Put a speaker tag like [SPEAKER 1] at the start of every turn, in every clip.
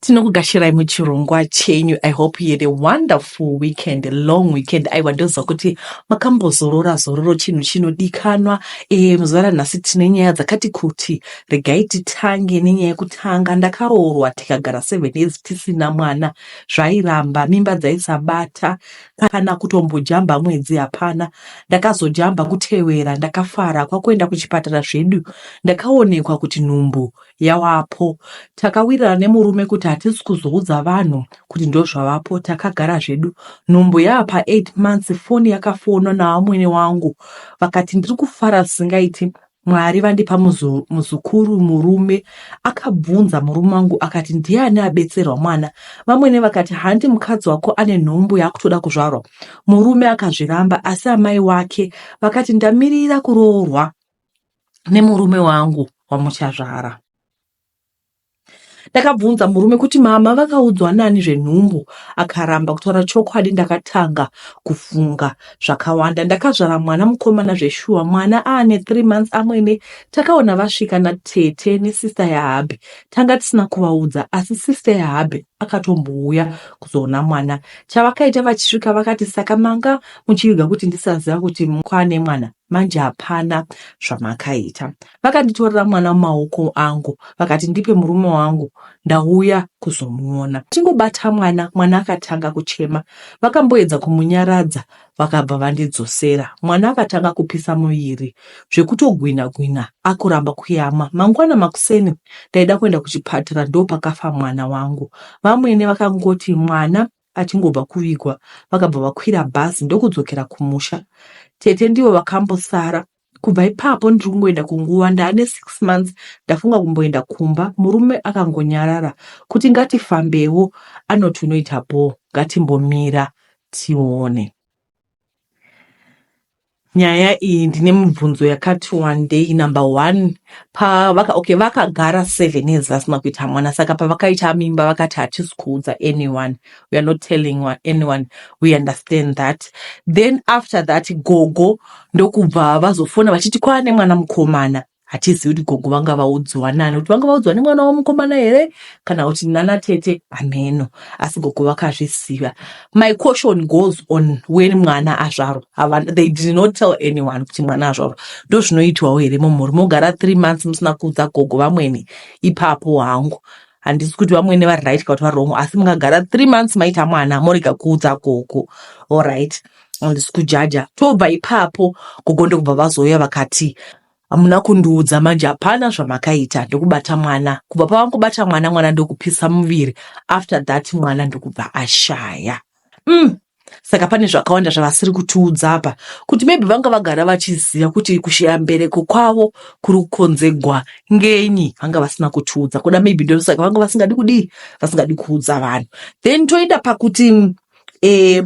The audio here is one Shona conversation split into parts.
[SPEAKER 1] tinokugashirai muchirongwa chenyu i hope you had a wonderful weekend a long weekend aiwa ndoziva kuti makambozorora zororo chinhu chinodikanwa e, muzuva ranhasi tine nyaya dzakati kuti regai titange nenyaya yekutanga ndakaroorwa tikagara seven years tisina mwana zvairamba mimba dzaisabata kana kutombojamba mwedzi hapana ndakazojamba kutevera ndakafara kwakuenda kuchipatara zvedu ndakaonekwa kuti nhumbu yavapo takawirirana nemurume kuti hatisi kuzoudza vanhu kuti ndozvavapo takagara zvedu nhumbu yava pa8 months foni yakafonwa navamwene wangu vakati ndiri kufara zvisingaiti mwari vandipa muzukuru murume akabvunza murume wangu akati ndiani abetserwa mwana vamwene vakati handi mukadzi wako ane nhumbu yaakutoda kuzvarwa murume akazviramba asi amai wake vakati ndamirira kuroorwa nemurume wangu wamuchazvara ndakabvunza murume kuti mama vakaudzwa nani zvenhumbu akaramba kutaura chokwadi ndakatanga kufunga zvakawanda ndakazvara mwana mukomana zveshuwa mwana aane three months amwene takaona vasvika natete nesista yahabi tanga tisina kuvaudza asi sista yahabi akatombouya kuzoona mwana chavakaita vachisvika vakati saka manga muchiviga kuti ndisaziva kuti kwane mwana manje hapana zvamakaita. Vakanditorera mwana mumaoko angu vakati ndipe murume wangu ndauya kuzomuona. Tingobata mwana, mwana akatanga kuchema. Vakamboedza kumunyaradza vakabva vandidzosera. Mwana akatanga kupisa muviri zvekutogwinha gwinha akuramba kuyama. Mangwana makuseni ndaida kuenda kuchipatara ndopakafa mwana wangu. Vamwene vakangoti mwana Achingobva kuvigwa vakabva vakwira bhazi ndokudzokera kumusha. Tete ndivo vakambosara. Kubva ipapo ndiri kungoenda kunguva ndaane six months ndafunga kumboenda kumba murume akangonyarara kuti ngatifambewo anoti unoita bhoo ngatimbomira tione. Nyaya iyi ndine mubvunzo yakati wandei. Number one, pavaka okay, vakagara seven years vasina kuita mwana, saka pavakaita mimba vakati hatisi kuudza anyone, we are not telling wa- anyone, we understand that. Then after that gogo ndokubva vazofona vachiti kwaane mwana mukomana. hatizivi kuti gogo vanga vaudzwa nani kuti vanga vaudzwa nemwana wamukomana here kana kuti nana tete hameno asi gogo vakazviziva my question goes on when mwana azvarwa they did not tell anyone kuti mwana azvarwa ndo zvinoitwawo here mumhuri mogara three months musina kuudza gogo vamwene ipapo hangu handisi kuti vamwene vari right ka kuti vari wrong asi mungagara three months maita mwana morega kuudza gogo allright handisi kujaja tobva ipapo gogo ndokubva vazouya vakati hamuna kundiudza manje hapana zvamakaita ndokubata mwana kubva pavangobata mwana mwana ndokupisa muviri after that mwana ndokubva ashaya mm. saka pane zvakawanda zvavasiri kutiudza apa kuti maybe vanga vagara vachiziva kuti kushaya mbereko kwavo kuri kukonzegwa ngenyi vanga vasina kutiudza kuda maybe ndosaka vanga vasingadi kudii vasingadi kuudza vanhu then toenda pakuti eh,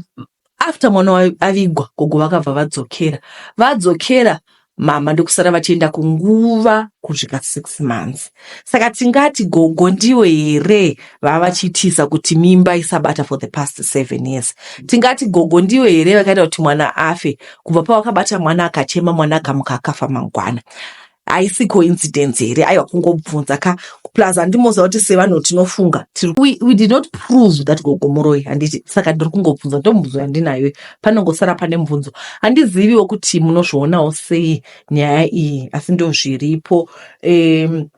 [SPEAKER 1] after mwana wayo avigwa gogo vakabva vadzokera vadzokera mama ndokusara vachienda kunguva kusvika six months saka tingati gogo ndiyo here vava vachiitisa kuti mimba isabata for the past seven years tingati gogo ndiyo here vakaita kuti mwana afe kubva pavakabata mwana akachema mwana akamuka akafa mangwana haisi coincidence here aiwa kungobvunza ka plus handimoziva kuti sevanhu tinofunga we did not prove that gogomoroi handiti saka ndiri kungobvunza ndomubvunzo yandinayo panongosara pane mubvunzo handiziviwo kuti munozvionawo sei nyaya iyi asi ndozviripo um,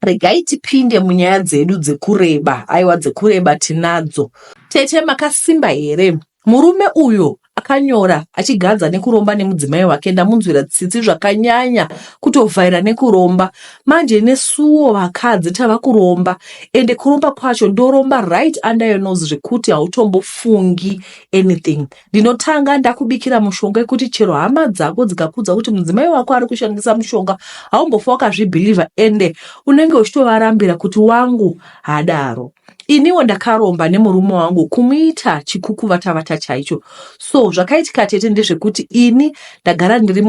[SPEAKER 1] regai tipinde munyaya dzedu dzekureba aiwa dzekureba tinadzo tete makasimba here Murume uyo akanyora achigadza nekuromba nemudzimai wake ndamunzwira tsitsi zvakanyanya kutovhaira nekuromba manje nesuwo vakadzi tava kuromba ende kuromba kwacho ndoromba right under your nose zvekuti hautombofungi anything ndinotanga ndakubikira mushonga yekuti chero hama dzako dzikakudza kuti mudzimai wako ari kushandisa mushonga haumbofa wakazvibhilivha ende unenge uchitovarambira kuti wangu hadaro iniwo ndakaromba nemurume wangu kumuita chikukuvatavata chaicho so zvakaitika tete ndezvekuti ini ndagara ndiri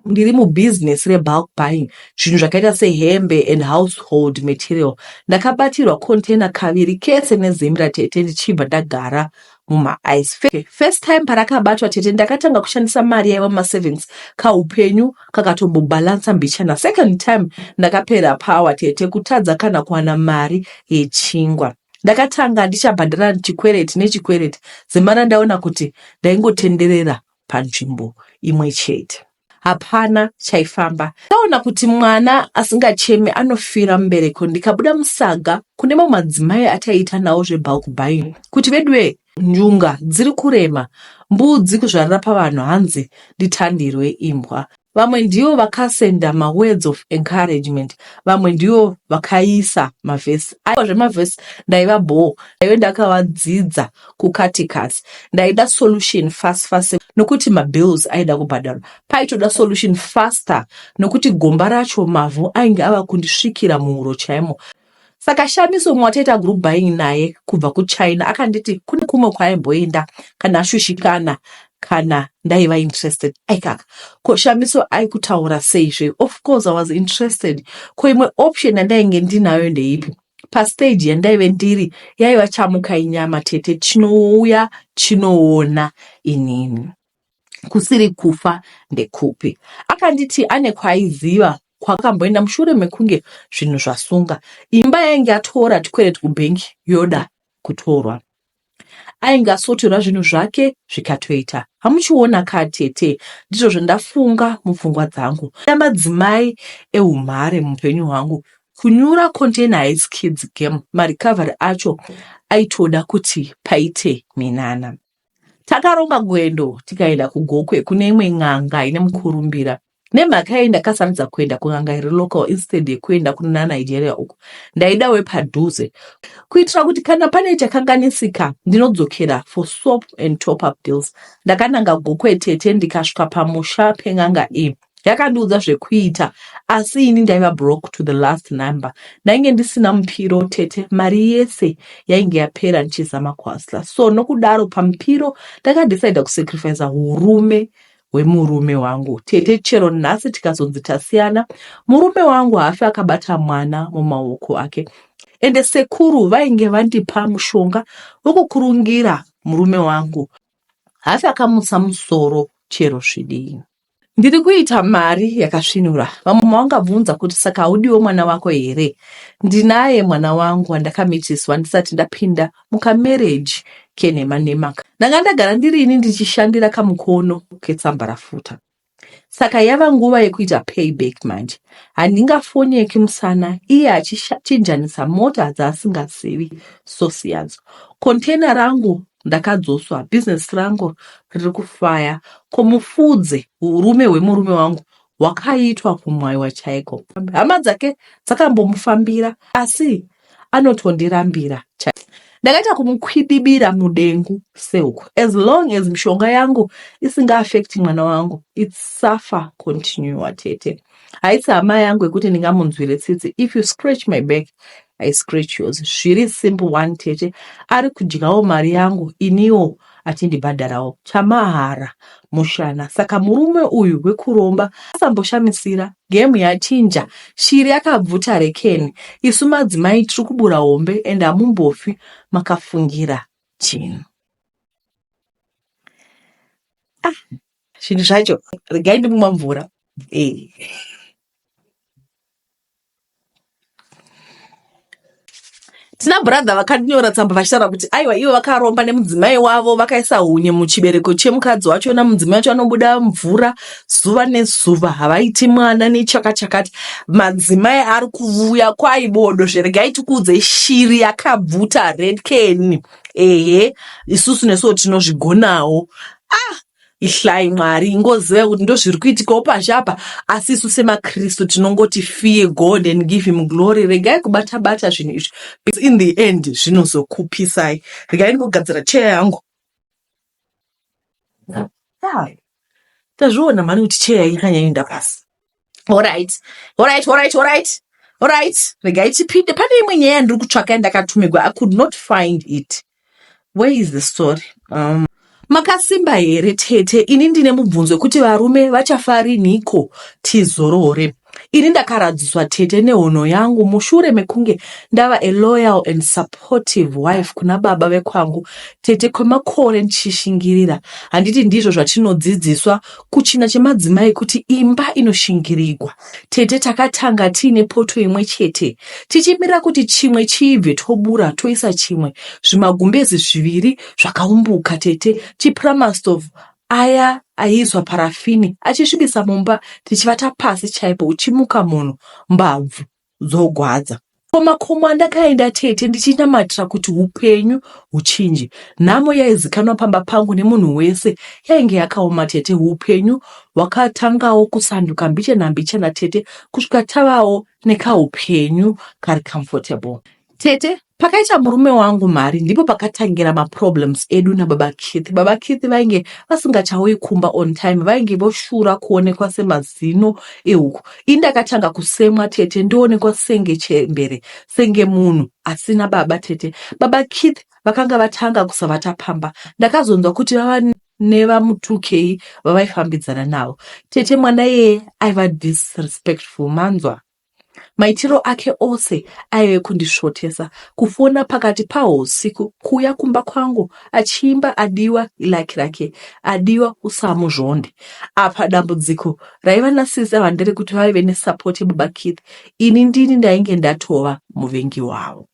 [SPEAKER 1] ndiri mubusiness rebulk buying zvinhu zvakaita sehembe and household material ndakabatirwa container kaviri kese nezimra tete ndichibva ndagara mumaeyes first time parakabatwa tete ndakatanga kushandisa mari yaiva mumasavings kaupenyu kakatombobalansa mbichana second time ndakapera power tete kutadza kana kuwana mari yechingwa ndakatanga ndichabhadhara chikwereti nechikwereti zimana ndaona kuti ndaingotenderera panzvimbo imwe chete hapana chaifamba. Taona kuti mwana asingacheme anofira mumbereko ndikabuda musaga kune mamwe madzimai ataiita nawo zvebulk buying kuti veduwe njunga dziri kurema mbudzi kuzvarira pavanhu hanzi nditandirwe imbwa. Vamwe ndivo vakasenda mawords of encouragement, vamwe ndivo vakaisa mavhesi. Aiwa zvemavhesi ndaiva bhoo, ndaive ndakavadzidza kukati kasi ndaida solution fast fast nokuti mabills aida kubhadharwa paitoda solution faster nokuti gomba racho mavhu ainge ava kundisvikira muhuro chaimo saka shamiso umwe wataita group buying naye kubva kuchina akanditi kune kumwe kwaaimboenda kana ashushikana kana ndaiva interested aikaka ko shamiso aikutaura seizve of course i was interested ko imwe option yandainge ndinayo ndeipi pastage yandaive ndiri yaiva chamuka inyama tete chinouya chinoona inini kusiri kufa ndekupi akanditi ane kwaiziva kwakamboenda mushure mekunge zvinhu zvasunga imba yainge yatora tikwereti kubhengi yoda kutorwa ainge asoterwa zvinhu zvake zvikatoita hamuchiona ka tete ndizvo zvandafunga mupfungwa dzangu da madzimai eumhare muupenyu hwangu kunyura container hais kids game marecovery acho aitoda kuti paite minana takaronga gwendo tikaenda kugokwe kune imwe n'anga ine mukurumbira Nemhaka yei ndakasarudza kuenda kun'anga iri local instead yekuenda kuna Nigeria uko ndaida wepadhuze kuitira kuti kana pane chakanganisika ndinodzokera for soap and top up deals. Ndakananga Gokwe tete ndikasvika pamusha pen'anga iyi yakandiudza zvekuita asi ini ndaiva broke to the last number ndainge ndisina mupiro tete mari yese yainge yapera ndichizama kuhasla so nokudaro pamupiro ndakadecida kusacrifica urume wemurume wangu tete chero nhasi tikazonzi tasiyana murume wangu haafi akabata mwana mumaoko ake ende sekuru vainge vandipa mushonga wokukurungira murume wangu haafi akamutsa musoro chero zvidii ndiri kuita mari yakasvinura vamwe mavangabvunza kuti saka haudiwo mwana wako here ndinaye mwana wangu wandakamitiswa ndisati ndapinda muka marriage kenhema nhema ka. Ndanga ndagara ndiri ini ndichishandira kamukono ketsambarafuta saka yava nguva yekuita payback manje. Handingafonyeki musana iye achichinjanisa mota dzaasingazivi source yadzo. Container rangu ndakadzoswa, business rangu riri kufaya. Ko mufudze urume hwemurume wangu hwakaitwa kumwaiwa chaiko. Hama dzake dzakambomufambira asi anotondirambira chaiye ndakaita kumukwidibira mudengu seuko as long as mishonga yangu isingaafekti mwana wangu its suffer continua tete haisi hama yangu yekuti ndingamunzwire tsitsi if you scratch my back i scratch yours zviri simple one tete ari kudyawo mari yangu iniwo achindibhadharawo chamahara mushana saka murume uyu wekuromba asamboshamisira game yachinja shiri yakabvuta rekeni isu madzimai tiri kubura hombe and hamumbofi makafungira chinhu ah, zvinhu zvacho regai ndimumwa mvura eh. tina brother vakanyora tsamba vachitaura kuti aiwa ivo vakaromba nemudzimai wavo vakaisa hunye muchibereko chemukadzi wacho na mudzimai wacho anobuda mvura zuva nezuva havaiti mwana nechaka chakati madzimai ari kuvuya kwaibodo zveregai tikuudze shiri yakabvuta red can ehe isusu nesuwo tinozvigonawo ihlai mwari ingoziva kuti ndozviri kuitikawo pashi apa asi isu semakristu tinongoti fear god and give him glory regai kubata bata zvinhu izvi because in the end zvinozokupisai regai ndingogadzira cheya yangu tazviona mhani kuti cheya ikanyaenda pasi horit horit horit horit horit regai tipinde pane imwe nyaya yandiri kutsvaka yandakatumigwa i could not find it where is the story um, makasimba here tete ini ndine mubvunzo wekuti varume vachafariniko tizorore ini ndakaradziswa tete nehono yangu mushure mekunge ndava a loyal and supportive wife kuna baba vekwangu tete kwemakore ndichishingirira handiti ndizvo zvatinodzidziswa Kuchina chemadzimai kuti imba inoshingirigwa. Tete takatanga tiine poto imwe chete tichimirira kuti chimwe chiibve tobura toisa chimwe. Zvimagumbezi zviviri zvakaumbuka tete chipuramastove aya aiiswa parafini achisvibisa mumba tichivata pasi chaipo uchimuka munhu mbabvu. dzogwadza. Komakomo andakaenda tete ndichinamatira kuti upenyu huchinje. Nhamo yaizikanwa pamba pangu nemunhu wese yainge yakaoma tete. Upenyu hwakatangawo kusanduka mbichana mbichana tete kusvika tavawo nekaupenyu kari comfortable. Tete Pakaita murume wangu mari ndipo pakatangira maproblems edu nababa Keith. Baba Keith vainge vasingachauyi kumba on time, vainge voshura kuonekwa semazino ehuku. Ini ndakatanga kusemwa tete, ndoonekwa senge chembere, senge munhu asina baba tete. Baba Keith vakanga vatanga kusavata pamba. Ndakazonzwa kuti vava nevamutukei vavaifambidzana navo. Tete mwana iyeye aiva disrespectful, manzwa. Maitiro ake ose aive kundisvotesa. Kufona pakati pahusiku, kuuya kumba kwangu achiimba adiwa ilaki rake, adiwa usamuzvonde. Apa dambudziko raiva naSisi ava nderekuti vaive nesapoti yababa Keith, ini ndini ndainge ndatova muvengi wavo.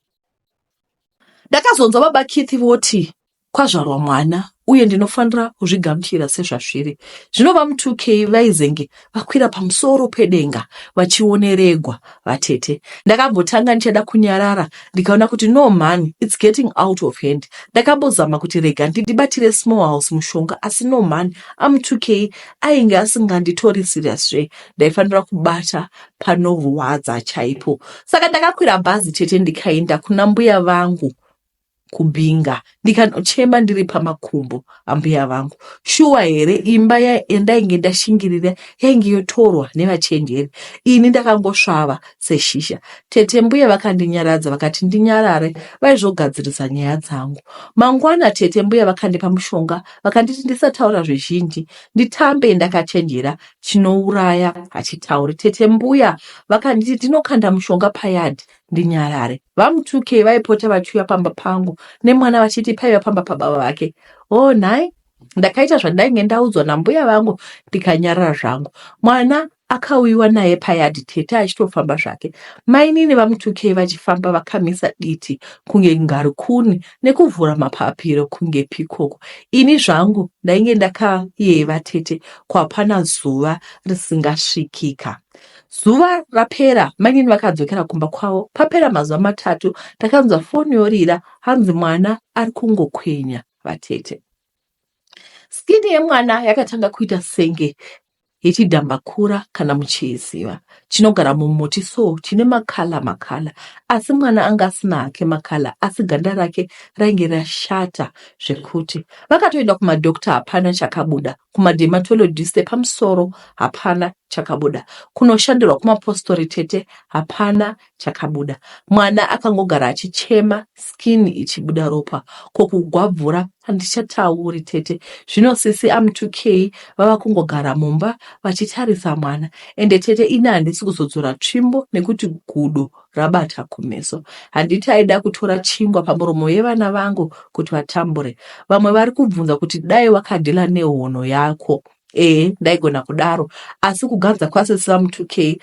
[SPEAKER 1] Ndakazonzwa baba Keith voti, kwazvarwa mwana uye ndinofanira kuzvigamuchira sezvazviri zvino vamutukei vaizenge vakwira pamusoro pedenga vachioneregwa vatete ndakambotanga ndichada kunyarara ndikaona kuti no man its getting out of hand ndakambozama kuti rega ndidibatire small house mushonga asi no man amutukei ainge asinganditori serious zve ndaifanira kubata panorwadza chaipo saka ndakakwira bhazi tete ndikaenda kuna mbuya vangu kubhinga ndikanochema ndiri pamakumbo ambuya vangu shuwa here imba yandainge ndashingirira yainge yotorwa nevachenjeri ini ndakangosvava seshisha tete mbuya vakandinyaradza vakati ndinyarare vaizogadzirisa nyaya dzangu mangwana tete mbuya vakandipa mushonga vakanditi ndisataura zvizhinji nditambe ndakachenjera chinouraya hachitauri tete mbuya vakanditi ndinokanda mushonga payadhi ndinyarare. VaMutukei vaipota vachiuya pamba pangu nemwana vachiti paiva pamba pababa vake. Oh nhai, ndakaita zvandainge ndaudzwa nambuya vangu ndikanyarara zvangu. Mwana akauyiwa naye payadhi tete achitofamba zvake. Mainini vaMutukei vachifamba vakamisa diti kunge ngarikuni nekuvhura mapapiro kunge pikoko. Ini zvangu ndainge ndakayeva tete kwapana zuva risingasvikika. Zuva rapera mainini vakadzokera kumba kwavo. Papera mazuva matatu takanzwa foni yorira hanzi mwana ari kungokwenya vatete. Skini yemwana yakatanga kuita senge yechidhambakura kana muchiiziva chinogara mumuti so chine makala makala asi mwana anga asina hake makala asi ganda rake rainge rashata zvekuti vakatoenda kumadokta hapana chakabuda kumadermatologist epamusoro hapana chakabuda, kunoshandirwa kumapostori tete hapana chakabuda, mwana akangogara achichema skin ichibuda ropa, ko kugwabvura handichatauri tete, zvino sisi am 2k vava kungogara mumba vachitarisa mwana ende tete ini handisi kuzodzora tsvimbo nekuti gudo rabata kumeso. Handiti aida kutora chingwa pamuromo yevana vangu kuti vatambure. Vamwe vari kubvunza kuti dai wakadhila nehono yako. Ee, ndaigona kudaro, asi kuganza kwasisi vamutukei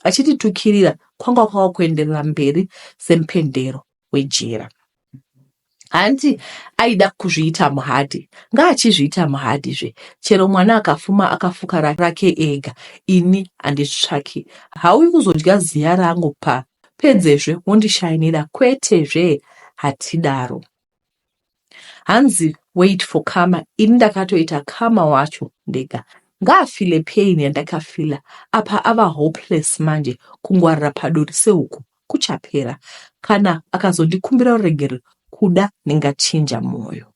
[SPEAKER 1] achinditukirira kwanga kwava kuenderera mberi semupendero wejira. hanti aida kuzviita muhadhi ngaachizviita muhadhi zve chero mwana akafuma akafuka rake ega ini handitsvaki hauyi kuzodya ziya rangu pa pedzezve wondishainira kwete zve hatidaro hanzi wait for kama ini ndakatoita kama wacho ndega ngaafile pain yandakafila apa ava hopeless manje kungwarira paduri sehuku kuchapera kana akazondikumbira ruregerero kuda ndingachinja mwoyo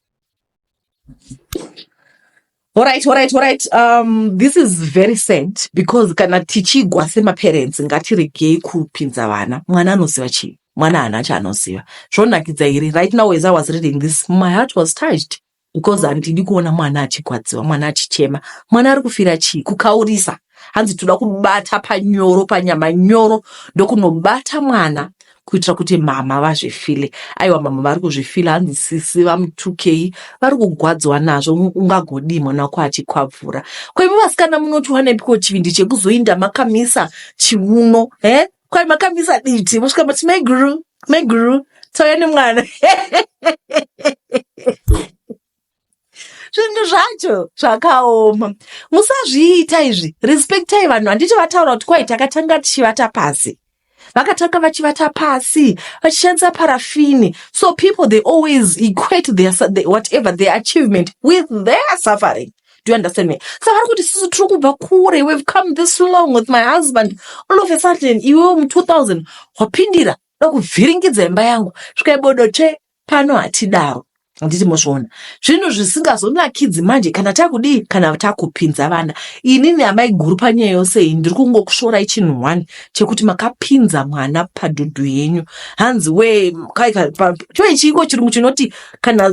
[SPEAKER 1] Alright, alright, alright. Um, this is very sad because kana tichigwa semaparents ngatiregei kupinza vana mwana anoziva chii mwana haana chaanoziva zvonakidza here right now as i was reading this my heart was touched because handidi kuona mwana achigwadziwa mwana achichema mwana ari kufira chii kukaurisa hanzi toda kubata panyoro panyama nyoro ndokunobata mwana kuitira kuti mama vazvifile aiwa mama vari kuzvifila hanzi sisi vamutukei vari kugwadziwa nazvo ungagodii mwana wako achikwabvura kwaimi vasikana munotiwanepiko chivindi chekuzoinda makamisa chiuno he kwai makamisa diti mosvika mati maiguru maiguru tauya nemwana zvinhu zvacho zvakaoma musazviita izvi respektai vanhu handiti vataura kuti kwai takatanga tichivata pasi vakatanga vachivata pasi vachishandisa parafini so people they always equate their, their, whatever their achievement with their suffering do you understand me saka vari kuti sisi tiri kubva kure we've come this long with my husband all of a sudden iwewo mu 2000 wapindira dokuvhiringidza imba yangu svikaibodote pano hatidaro handiti mozviona zvinhu zvisingazonakidzi manje kana takudii kana takupinza vana inini amai guru panyaya yose iyi ndiri kungokushorai chinhu one chekuti makapinza mwana padhudhu yenyu hanzi we choichiiko chirungu chinoti kana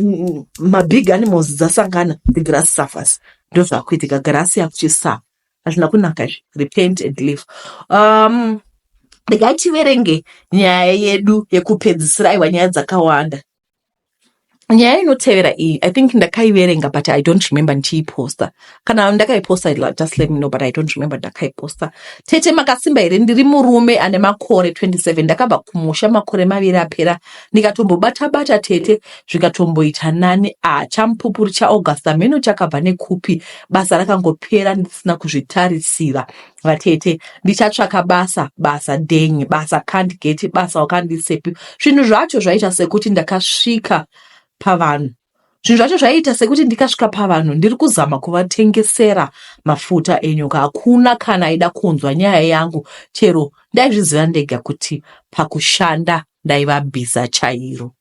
[SPEAKER 1] mabig animals dzasangana the grass suffers ndozvakuitika grass yakuchisa hazvina kunaka izvi repent and live um regai tiverenge nyaya yedu yekupedzisira aiwa nyaya dzakawanda nyaya inotevera iyi i think ndakaiverenga but i don't remember ndichiiposta kana ndakaiposta just let me know but i don't remember ndakaiposta tete makasimba here ndiri murume ane makore 27 ndakabva kumusha makore maviri apera ndikatombobata bata tete zvikatomboita nani a champupuri chaaugusta mheno chakabva nekupi basa rakangopera ndisina kuzvitarisira vatete ndichatsvaka basa basa denyi basa can't get basa wakandisepi zvinhu zvacho zvaita sekuti ndakasvika pavanhu zvinhu zvacho zvaiita sekuti ndikasvika pavanhu ndiri kuzama kuvatengesera mafuta enyoka hakuna kana aida kunzwa nyaya yangu chero ndaizviziva ndega kuti pakushanda ndaiva bhiza chairo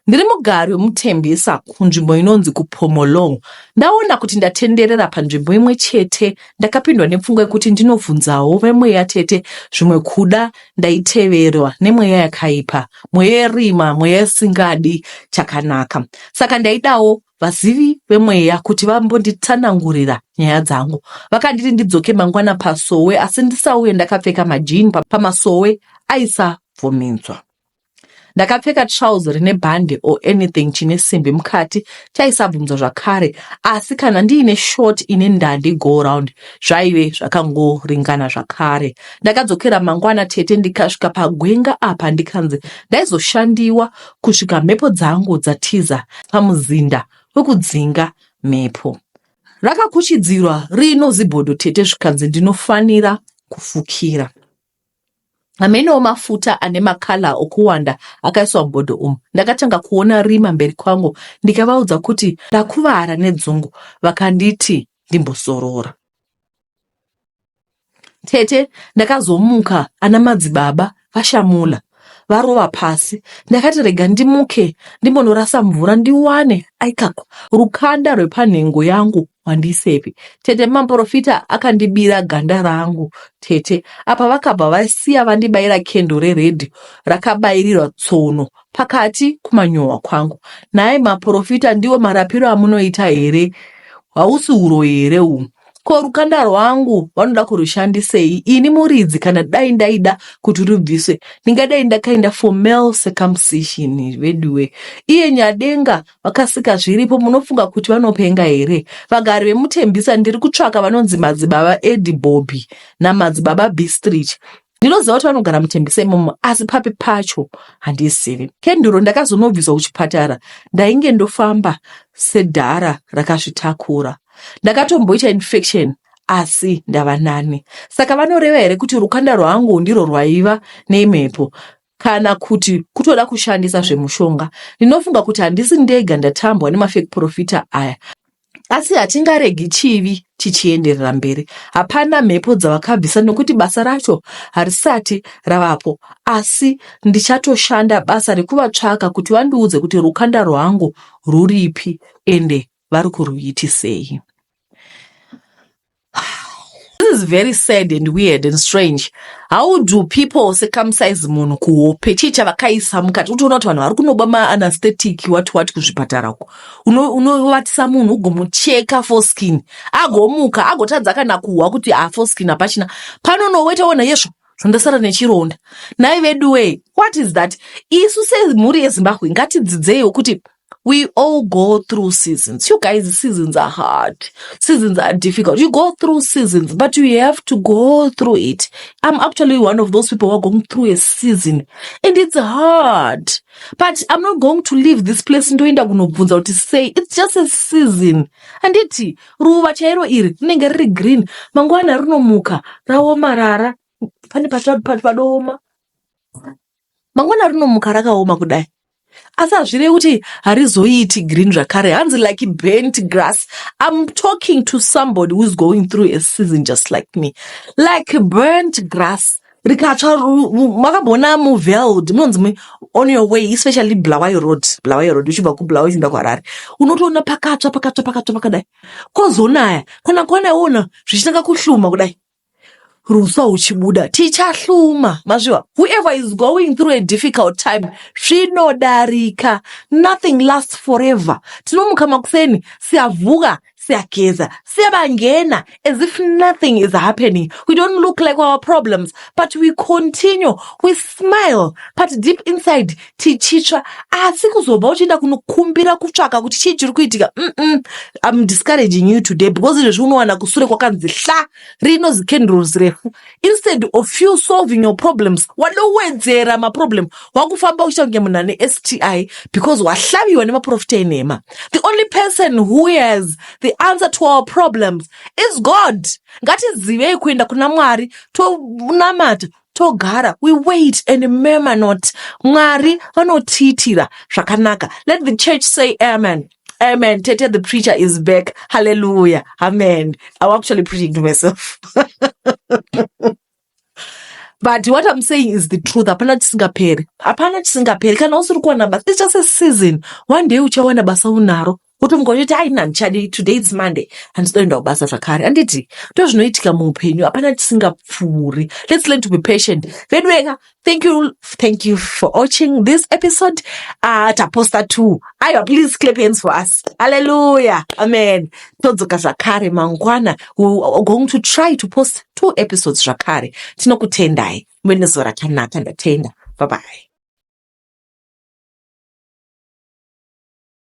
[SPEAKER 1] ndiri mugari wemutembisa kunzvimbo inonzi kupomolong ndaona kuti ndatenderera panzvimbo imwe chete ndakapindwa nepfungwa yekuti ndinobvunzawo vemweya tete zvimwe kuda ndaiteverwa nemweya yakaipa mweya yerima mweya isingadi chakanaka saka ndaidawo vazivi vemweya kuti vambonditsanangurira nyaya dzangu vakanditi ndidzoke mangwana pasowe asi ndisauye ndakapfeka majini pamasowe aisabvumidzwa Ndakapfeka trouser rine bhande or anything chine simbi mukati chaisabvunzwa zvakare asi kana ndiine short ine ndandi go round zvaive zvakangoringana zvakare. Ndakadzokera mangwana tete ndikasvika pagwenga apa ndikanzi ndaizoshandiwa kusvika mhepo dzangu dzatiza pamuzinda wekudzinga mhepo. Rakakuchidzirwa rino zibhodo tete zvikanzi ndinofanira kufukira. Hamenewo mafuta ane makala okuwanda akaiswa mubhodho umu. Ndakatanga kuona rima mberi kwangu ndikavaudza kuti ndakuvara nedzungu vakanditi ndimbozorora. Tete ndakazomuka ana madzibaba vashamula varova pasi. Ndakati rega ndimuke ndimbonorasa mvura ndiwane aikako rukanda rwepanhengo yangu Wandisepi tete maporofita akandibira ganda rangu tete apa vakabva vasiya vandibaira kendo reredhi rakabairirwa tsono pakati kumanyowa kwangu nhai maporofita ndiwo marapiro amunoita here hausi uroyi here uhu ko rukanda rwangu vanoda kurushandisei ini muridzi kana dai ndaida kuti rubviswe ndingadai ndakaenda for male circumcision veduwe iye nyadenga vakasika zviripo munofunga kuti vanopenga here vagari vemutembisa ndiri kutsvaka vanonzi madzibaba edi bobby namadzibaba bistrich ndinoziva kuti vanogara mutembisa imomo asi papi pacho handizivi kenduro ndakazonobviswa kuchipatara ndainge ndofamba sedhara rakazvitakura ndakatomboita infection asi ndava nani saka vanoreva here kuti rukanda rwangu ndiro rwaiva nemhepo kana kuti kutoda kushandisa zvemushonga. Ndinofunga kuti handisi ndega ndatambwa nemafake profita aya. Asi hatingaregi chivi chichienderera mberi. Hapana mhepo dzavakabvisa nokuti basa racho harisati ravapo. Asi ndichatoshanda basa rekuvatsvaka kuti vandiudze kuti rukanda rwangu rwuripi ende vari kurwiitisei this is very sad and weird and strange how do people circumcise munhu kuhope chii chavakaisa mukati utoona kuti vanhu vari kunoba maanaesthetic wati wati kuzvipatara uko unovatisa uno munhu ugomucheka foskin agomuka agotadza kana kuhwa kuti afoskin ah, hapachina pano noweta wona yesvo zvondasara nechironda nhai veduwee what is that isu semhuri yezimbabwe ngatidzidzeiwo kuti we all go through seasons you guys seasons are hard seasons are difficult you go through seasons but you have to go through it i'm actually one of those people who are going through a season and it's hard but i'm not going to leave this place ndoenda kunobvunza kuti say it's just a season handiti ruva chairo iri rinenge riri green mangwana rinomuka raomarara pane padooma mangwana rinomuka rakaoma kudai asi hazvirevi kuti harizoiiti green zvakare hanzi like bent grass im talking to somebody who is going through a season just like me like burnt grass rikatsva makambona muveld munonzi on your way especially blawai road blawai road uchibva kublawa uchienda kuharare unotoona pakatsva pakatsva pakatsva pakadai kozonaya kana kwana iwona zvichitanga kuhluma kudai Ruswa huchibuda tichahluma mazviwa whoever is going through a difficult time zvinodarika nothing lasts forever tinomuka makuseni siyavuka siyageza siyabangena as if nothing is happening we don't look like our problems but we continue we smile but deep inside tichitsva asi kuzobva uchienda kunokumbira kutsvaka kuti chii chiri kuitika mm im discouraging you today because izvezvi unowana kusure kwakanzi hla rinozi candles refu instead of you solving your problems wanowedzera maproblem wakufamba uchiita kunge munhu ane sti because wahlaviwa nemaprofita enhema the only person who has the answer to our problems is god ngatizivei kuenda kuna mwari tonamata togara we wait and murmur not mwari vanotiitira zvakanaka let the church say amen amen tete the preacher is back hallelujah amen i'm actually preaching to myself but what i'm saying is the truth hapana chisingaperi hapana chisingaperi kana usiri kuwana basa it's just a season one day uchawana basa unaro kuti mukototi aini handichadi today its monday handizoenda kubasa zvakare handiti ndo zvinoitika muupenyu hapana tisingapfuuri lets learn to be patient veduweka thank you thank you for watching this episode uh, taposta two aiwa please clap hands for us halleluya amen todzoka zvakare mangwana weare going to try to post two episodes zvakare tinokutendai muve nezuva rakanaka ndatenda bye bye